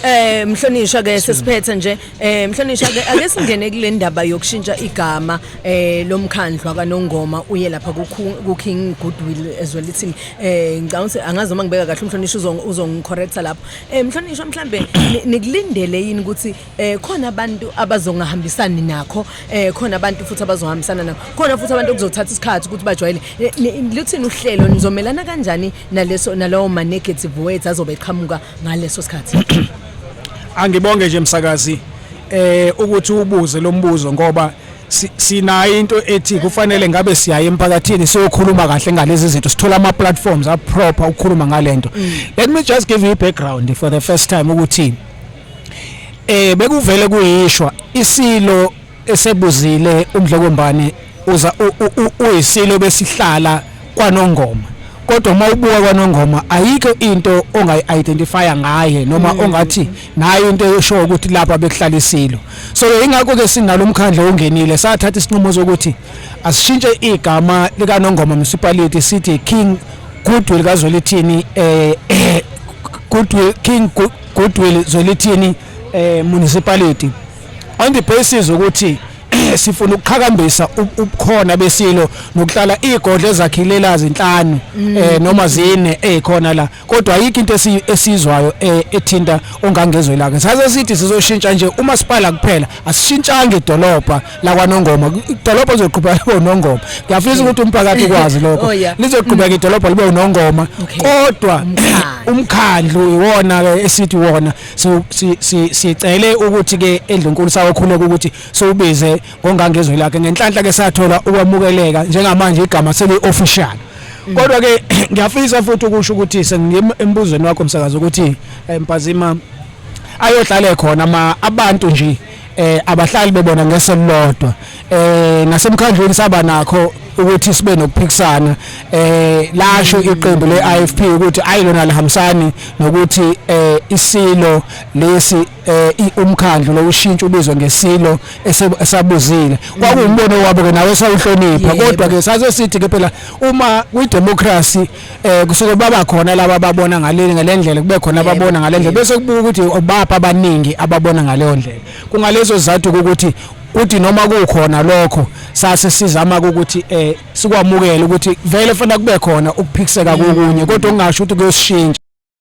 Eh mhlonishwa ke sesiphethe nje eh mhlonishwa ke ake singene kule ndaba yokushintsha igama eh lomkhandlu akanongoma uye lapha ku King Goodwill ezwelithini eh ngicabanga ukuthi angazi uma ngibeka kahle umhlonishwa uzongicorrecta lapho eh mhlonishwa mhlambe nikulindele yini ukuthi eh khona abantu abazongahambisani nakho eh khona abantu futhi abazohambisana nakho khona futhi abantu okuzothatha isikhathi ukuthi bajwayele eh, luthini uhlelo nizomelana kanjani naleso nalawo ma negative words azobe eqhamuka ngaleso sikhathi angibonge nje msakazi eh ukuthi ubuze lombuzo ngoba sinayo into ethi kufanele ngabe siyaye emphakathini siyokhuluma kahle ngalezi zinto sithola ama platforms a proper ukukhuluma ngalento mm. let me just give you a background for the first time ukuthi eh bekuvele kuyishwa isilo esebuzile umdlokombane uza uyisilo besihlala kwanongoma kodwa uma ubuka kwanongoma ayikho into ongayi-identifya ngaye noma mm. ongathi nayo into eshoyo ukuthi lapha bekuhlala isilo so yingakho-ke sinalo mkhandla ongenile sathatha isinqumo sokuthi asishintshe igama likanongoma municipality sithi king goodwill kazwelithini eh, eh goodwill king goodwill zwelithini eh municipality on the basis ukuthi sifuna ukuqhakambisa ubukhona besilo nokuhlala igodle ezakhilela zinhlanu mm. eh noma zine ezikhona eh, la kodwa ayikho into esizwayo eh, ethinta ongangezwe laka saze sithi sizoshintsha nje umasipala kuphela asishintshanga idolobha la kwanongoma idolobha lizoqhubeka libe unongoma ngiyafisa ukuthi umphakathi ukwazi lokho oh, lizoqhubeka mm. idolobha libe unongoma kodwa umkhandlu iwona ke esithi wona sicele ukuthi-ke endlunkulu sawokhuleka ukuthi siwubize ngongangezwi lakhe ngenhlanhla ke sathola ukwamukeleka njengamanje igama seli-official mm. kodwa-ke ngiyafisa futhi ukusho ukuthi sengiyima embuzweni wakho msakazi ukuthi eh, mpazima ayohlale khona ma abantu nje eh abahlali bebona ngeso lodwa eh nasemkhandlweni saba nakho ukuthi sibe nokuphikisana eh lasho iqembu leIFP ukuthi ayilona lihambisani nokuthi eh isilo lesi eh umkhandlu lokushintsha ubizwe ngesilo esabuzile kwakuwumbono wabo ke nawe sawuhlonipha kodwa ke sase sithi ke phela uma kwi democracy eh kusuke baba khona laba ababona ngaleli ngalendlela kube khona ababona ngalendlela bese kubuka ukuthi obapha abaningi ababona ngaleyo ndlela kungalezo zathu ukuthi uthi noma kukhona lokho sase sizama ukuthi eh sikwamukele ukuthi vele fanele kube khona ukuphikiseka kokunye kodwa ungasho ukuthi kuyoshintsha